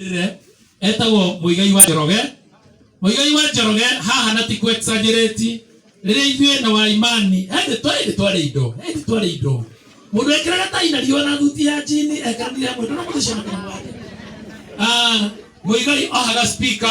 rĩrĩ etagwo mũigai wa njoroge mũigai wa njoroge haha na ti kwexagereti rĩrĩa ithuĩ na wa imani ende twarĩ twarĩ indo ende twarĩ indo mũndũ ekĩraga tai na riũa na thuti ya jini ekanire amwe ndona mũthecana kana mwake mũigai ohaga spika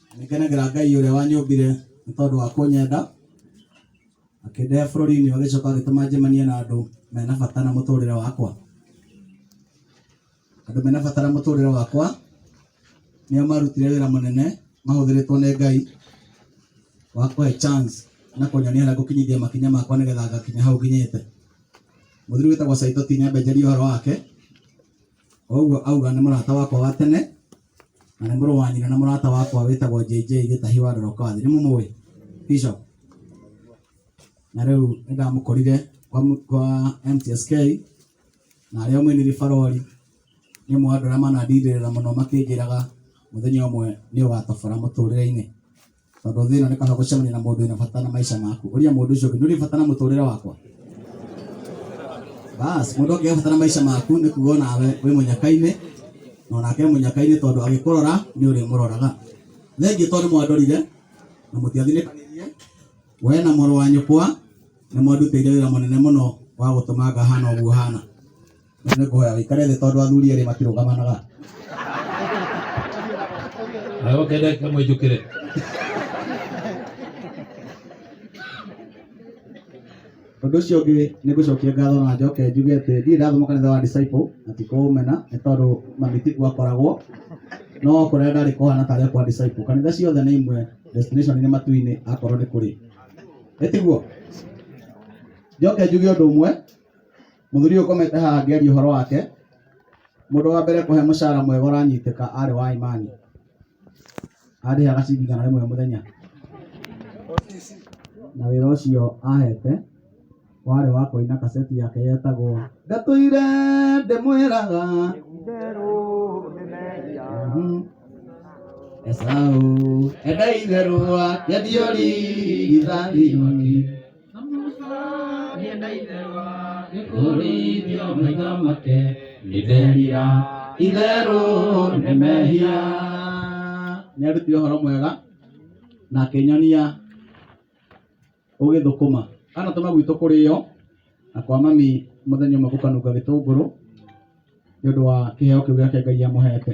Nĩngenagĩra Ngai ũrĩa wanyũmbire nĩ tondũ wa kũnyenda, akĩndehe bũrũri-inĩ agĩcoka agĩtũma njemanie na andũ mena bata na mũtũrĩre wakwa. Andũ mena bata na mũtũrĩre wakwa nĩo marutire wĩra mũnene mahũthĩrĩtwo nĩ Ngai wa kũhe chance na kũnyonia harĩa ngũkinyithia makinya makwa nĩgetha ngakinya hau nginyĩte. Mũthuri wĩtagwo Saitoti nĩambenjeirie ũhoro wake. O ũguo auga nĩ mũrata wakwa wa tene na nĩ mũrũ wa nyina na mũrata wakwa wĩtagwo JJ Gĩtahi wa Ndorokathi. Nĩ mũmũĩ Bishop? Na rĩu nĩ ndamũkorire kwa, mu- kwa MTSK na arĩa mũinĩri barori nĩ ũmwe wa andũ arĩa manandindĩrĩra mũno makĩnjĩraga mũthenya ũmwe nĩ ũgatobora mũtũrĩre-inĩ. tondũ thĩ ĩno nĩ kaba gũcemania na mũndũ wĩna bata na maica maku ũria mũndũ ũcio ũngĩ nĩ ũrĩ bata na mũtũrĩre wakwa bas mũndũ angĩga bata na maica maku nĩ kuga nawe wĩ mũnyaka-inĩ na onake e mũnyaka-inĩ tondũ agĩkũrora nĩ ũrĩ mũroraga thengiũ tondũ nĩ mwandorire na mũtiathinĩkanirie we na mũrũ wa nyũkwa nĩ mwandutĩire wĩra mũnene mũno wa gũtũma ngahana ũguo hana Nĩ kũhoya wĩkare thĩ tondũ athuri erĩ matirũgamanaga. Na woke ndeke mwĩnjũkĩre. Ũndũ ũcio ũngĩ nĩ ngũcokia ngatho na njoke njuge atĩ ndirĩ ndathoma kanitha wa Disciple na ti kũũmena nĩ tondũ mami tikuo akoragwo. No kũrĩa ndarĩ kũhana tarĩ o kwa Disciple. Kanitha ciothe nĩ imwe, destination nĩ matu-inĩ akorwo nĩ kũrĩ. Ĩĩ tiguo? Njoke njuge ũndũ ũmwe. Mũthuri ũyũ ũkomete haha angĩaria ũhoro wake, mũndũ wa mbere kũhe mũcara mwega ũranyitĩka arĩ wa Imani. Arĩhaga ciringi igana rĩmwe mũthenya. Na wĩra ũcio ahete warĩ wa kũina kaseti yake yetagwo Ndatũire ndĩmwĩraga Mhm. Esaũ enda itherũ wake ndiũrigithani nĩkũrĩithio maitho make nĩtherira itherũ nĩ mehia nĩarutire ũhoro mwega na akĩnyonia ũgĩthũkũma anatũma gwitũ kũrĩo na kwa mami mũthenya ũmwe gũkanunga gĩtũngũrũ nĩ ũndũ wa kĩheo kĩu gĩake ngai amũhete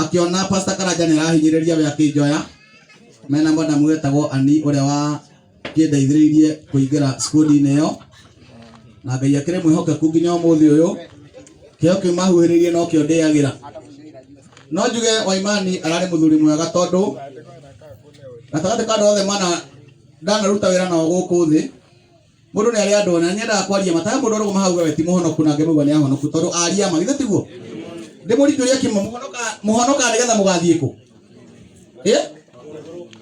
akĩona Pastor Karanja nĩarahinyĩrĩria we akĩnjoya mena madam wetagwo Ani ũrĩa wa kĩndeithĩrĩirie kũingĩra skundi-inĩ ĩyo na Ngai akĩrĩ mwĩhokeku nginya ũmũthĩ ũyũ kĩo kĩu mahuhĩrĩirie no kĩo ndĩagĩra no njuge Waimani ararĩ mũthuri mwega tondũ gatagatĩ ka andũ othe mana ndanaruta wĩra nao gũkũ thĩ Mũndũ nĩ arĩ andũ na nĩ endaga kwaria ma. Ta he mũndũ arũgama hau auga we ti mũhonoku na angĩ mauga nĩ ahonoku tondũ aria ma. Githĩ tiguo? Ndĩmũrie kĩũria kĩmwe, mũhonokaga mũhonokaga nĩgetha mũgathiĩ kũ? Ĩ?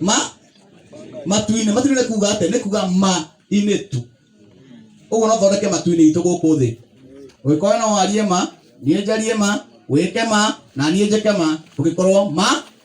Ma? Matu-inĩ. Matu-inĩ nĩ kuuga atĩ nĩ kuuga ma-inĩ tu. Ũguo no thondeke matu-inĩ itũ gũkũ thĩ. Ũngĩkorwo no warie ma, niĩ njarie ma, wĩke ma, na niĩ njĩke ma, ũngĩkorwo ma,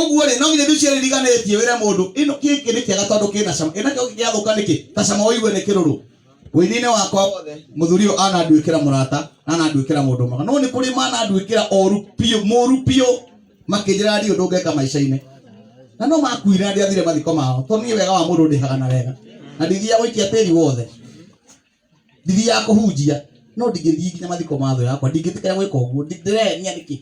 Ũguo rĩ, no nginya indo icio iririganĩtie wĩre mũndũ ĩno kĩkĩ nĩ kĩega tondũ kĩna cama, ĩna kĩo gĩgĩathũka nĩkĩ? Ta cama ũigue nĩ kĩrũrũ. Ũini-inĩ wakwa wothe, mũthuri ũyũ ananduĩkĩra mũrata na ananduĩkĩra mũndũ mwega, no nĩ kũrĩ mananduĩkĩra oru biũ, mũru biũ, makĩnjĩraga ndirĩ ũndũ ngeka maica-inĩ. Na no makuire na ndiathire mathiko mao, tondũ niĩ wega wa mũndũ ndĩhaga na wega, na ndithiaga gũikia tĩri wothe. ndiri ya kũhunjia no ndingĩthiĩ nginya mathiko ma thũ yakwa ndingĩtĩkĩra gwĩka ũguo ndĩrehenia nĩkĩ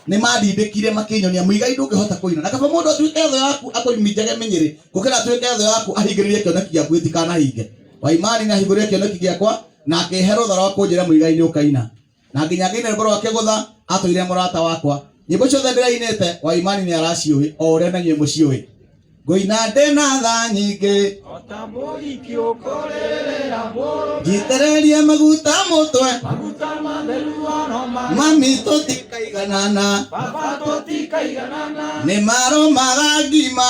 nĩmandindĩkire makĩnyonia mũigai ndũngĩhota kũina na kaba mũndũ atuĩke thũ yaku akũminjage mĩnyĩrĩ gũkĩra atuĩke thũ yaku ahingĩrĩrie kĩoneki gĩaku gĩtikanahinge waimani nĩahingũrĩre kĩoneki gĩakwa na akĩhe rũtha rwa kũnjĩra mũigai nĩũkaina na nginya ngĩine rwĩmbo rwa kĩgũtha atũire mũrata wakwa nyĩmbo ciothe ndĩrainĩte wa imani nĩ araciũĩ o ũrĩa na inyuĩ mũciũĩ ngũina ndĩ na tha nyingĩ njitĩrĩrie maguta mũtwe mami tũtikaiganana nĩ maro magangima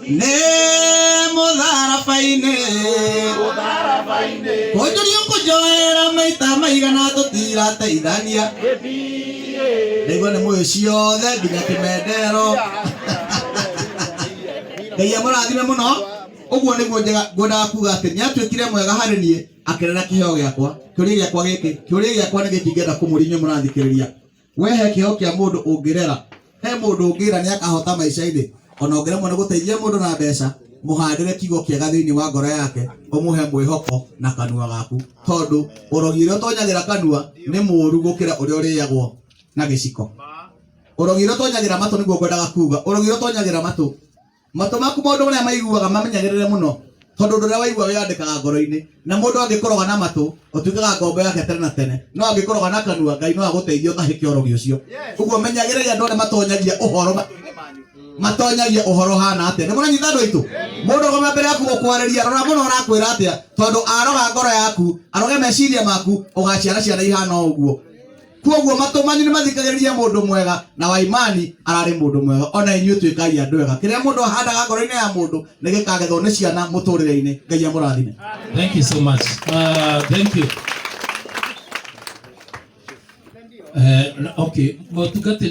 nĩ mũtharaba-inĩ kũnjũria kũnjoera maita maigana tũtirateithania ndaigua nĩ mũĩ ciothe nginya kĩmendero ngai amũrathime mũno ũguo nĩguo njega- ngwendaga kuga atĩ nĩ atuĩkire mwega harĩ niĩ akenera kĩheo gĩakwa kĩũria gĩakwa gĩkĩ kĩũria gĩakwa nĩ gĩkĩ ingĩenda kũmũria inyuĩ mũrathikĩrĩria We he kĩheo kĩa mũndũ ũngĩrera, he mũndũ ũngĩra nĩakahota maica-inĩ, ona ũngĩremwo nĩ gũteithia mũndũ na mbeca, mũhandĩre kiugo kĩega thĩinĩ wa ngoro yake, ũmũhe mwĩhoko na kanua gaku, tondũ ũrogi ũrĩa ũtonyagĩra kanua nĩ mũũru gũkĩra ũrĩa ũrĩagwo na gĩciko. Ũrogi ũrĩa ũtonyagĩra matũ nĩguo ngwendaga kuuga, ũrogi ũrĩa ũtonyagĩra matũ Matũ maku maũndũ marĩa maiguaga mamenyagĩrĩre mũno, tondũ ũndũ ũrĩa waigua wĩyandĩkaga ngoro-inĩ. Na mũndũ angĩkũroga na matũ, ũtuĩkaga ngombo yake tene na tene, no angĩkũroga na kanua, Ngai no agũteithie ũtahĩke ũrogi ũcio. Ũguo menyagĩrĩria andũ arĩa matonyagia ũhoro matũ-inĩ manyu, matonyagia ũhoro ũhana atĩa. Nĩ mũranyita andũ aitũ? Mũndũ arũgama mbere yaku gũkwarĩria, rora mũno arakwĩra atĩa, tondũ aroga ngoro yaku, aroge meciria maku, ũgaciara ciana ihana o ũguo. Kuoguo matũ manyu nĩmathikagĩrĩrie mũndũ mwega, na wa imani ararĩ mũndũ mwega. O na inyuĩ tuĩkai andũ ega. Kĩrĩa mũndũ ahandaga ngoro-inĩ ya mũndũ nĩgĩkagethwo nĩ ciana mũtũrĩre-inĩ. Ngai amũrathime. Thank you so much. Uh, thank you. Eh, na- okay, motungati